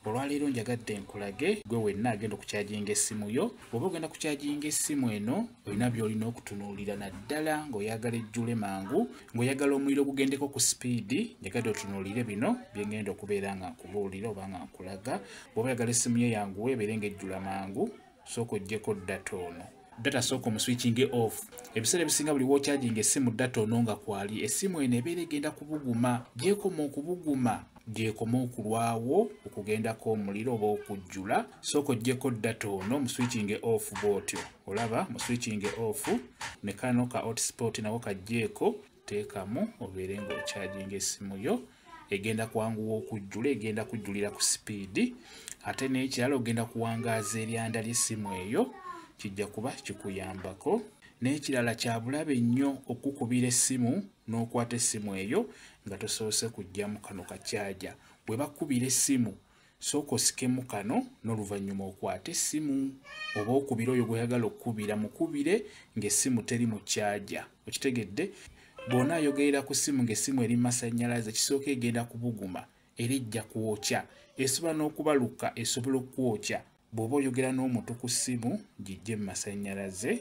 olwaleero njagadde nkulage gwe wenna agenda okukyaginga essimu yo oba ogenda kukyaginga essimu eno olina byolina okutunuulira naddala ng'oyagala ejjule mangu ng'oyagala omuliro gugendeko ku sipiidi njagadde otunuulire bino byengenda okubeera nga nkubuulira oba nga nkulaga bwoba oyagala essimu ye yanguwe ebeere nga ejjula mangu sooka ojjeko data ono data sooka omuswitchinge off ebiseera ebisinga buli wokyajinga essimu data ono nga kwali essimu eno ebeera egenda kubuguma gyekoma okubuguma gyekoma okulwawo okugendako omuliro oba okujjula sooka ojjeko data ono muswitchinge off bwotyo olaba muswitchinge off nekano ka hotspot nawo kajjeeko teekamu obeere ng'okyajinga essimu yo egenda kwanguwa okujjula egenda kujjulira ku sipiidi ate n'ekirala ogenda kuwangaaza eryanda ly'essimu eyo kijja kuba kikuyambako n'ekirala kya bulabe nnyo okukubira essimu n'okwata essimu eyo nga tosoose kujja mu kano kakyaja bwe bakubira essimu sooka osikemu kano n'oluvannyuma okwate essimu oba okubira oyo gweyagala okukubira mukubire ng'essimu teri mu kyaja okitegedde bwona ayogerera ku ssimu ng'essimu eri masannyalaze kisooka egenda kubuguma era ejja kwokya esobola n'okubaluka esobola okukwokya bw'oba oyogera n'omuntu ku ssimu gijje mu masannyalaze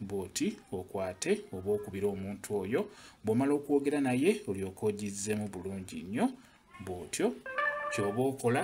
bw'oti okwate oba okubira omuntu oyo bw'omala okwogera naye olyoka ogizzemu bulungi nnyo bw'otyo kyoba okola